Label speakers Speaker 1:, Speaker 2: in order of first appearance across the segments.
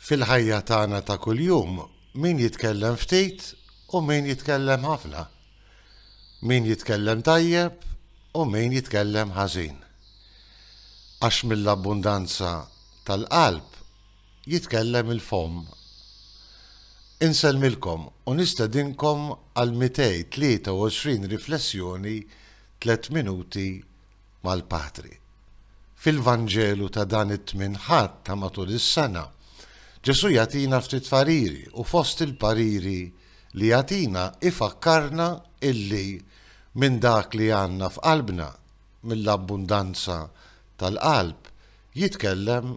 Speaker 1: Fil-ħajja tagħna ta' kuljum, min jitkellem ftit u min jitkellem ħafna. Min jitkellem tajjeb u min jitkellem ħażin. Għax mill-abbundanza tal-qalb jitkellem il-fomm. Insellmilkom u nistedinkom għal 223 riflessjoni tliet minuti mal-Patri. Fil-Vanġelu ta' dan it-Tmien Ħadd ta' matul is-sena, Ġesù jagħtina ftit pariri u fost il-pariri li jagħtina jfakkarna illi minn dak li għandna f'qalbna, mill-abbundanza tal-qalb, jitkellem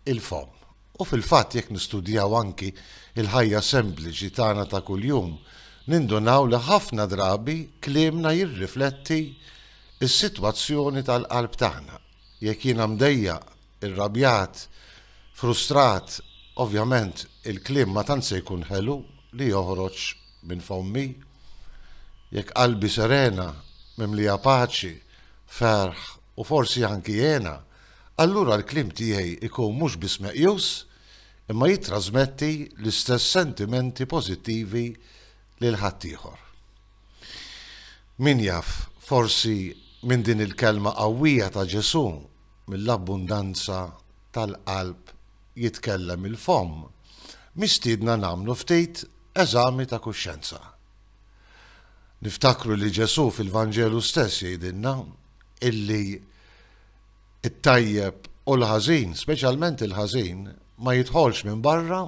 Speaker 1: il-fomm. U fil-fatt jekk nistudjaw anki l-ħajja sempliċi tagħna ta' kuljum, nindunaw li ħafna drabi kliemna jirrifletti s-sitwazzjoni tal-qalb tagħna. Jekk jiena mdejjaq, irrabjat, frustrat, ovvjament il-kliem ma tant se jkun ħelu li joħroġ minn fommi. Jekk qalbi serena, mimlija paċi, ferħ, u forsi anki jgħinha, allura l-kliem tiegħi jkun mhux biss meqjus, imma jittrasmetti l-istess sentimenti pożittivi lil ħaddieħor. Min jaf, forsi minn din il-kelma qawwija ta' Ġesù, mill-abbundanza tal-qalb jitkellem il-fomm, mistiedna nagħmlu ftit eżami ta' kuxjenza. Niftakru li Ġesù fil-Vanġelu stess jgħidilna, illi t-tajjeb u l-ħażin, speċjalment il-ħażin, ma jidħolx minn barra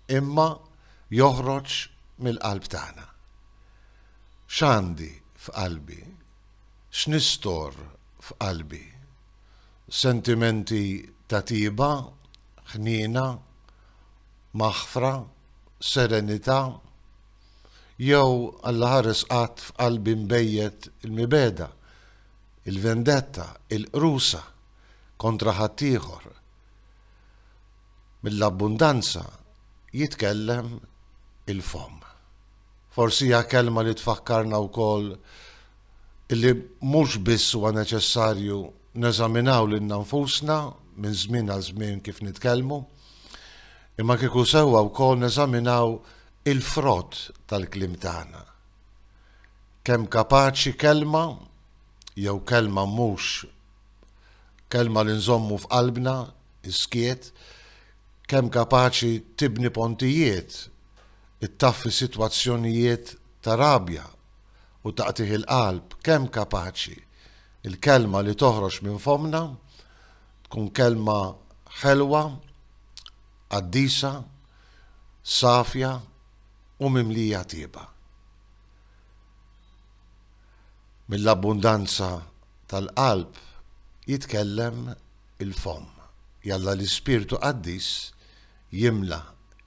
Speaker 1: imma joħroġ mill-qalb tagħna. X'għandi f'qalbi? X'nistor f'qalbi? Sentimenti ta' tieba, ħniena, maħfra, serenità, Jew, Alla ħares qatt f'qalbi nbejjet il-mibegħda, il-vendetta, il-qrusa kontra ħaddieħor? Mill-abbundanza jitkellem il-fomm. Forsi hija kelma li tfakkarna wkoll li mhux biss huwa neċessarju neżaminaw lilna nfusna minn żmien għal żmien kif nitkellmu, imma kieku sewwa wkoll neżaminaw Il-frott tal-kliem tagħna. Kemm kapaċi kelma jew kelma mhux kelma li nżommu f'qalbna, is-skiet, kemm kapaċi tibni pontijiet, ittaffi sitwazzjonijiet ta' rabja u ta' qtigħ il-qalb, kemm kapaċi l-kelma li toħroġ minn fommna tkun kelma ħelwa, qaddisa, safja u mimlija tieba. Mill-abbundanza tal-qalb jitkellem il-fomm. Jalla l-Ispirtu Qaddis jimla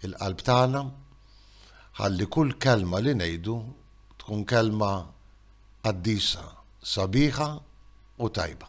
Speaker 1: l-qalb tagħna ħalli kull kelma li ngħidu tkun kelma qaddisa, sabiħa u tajba.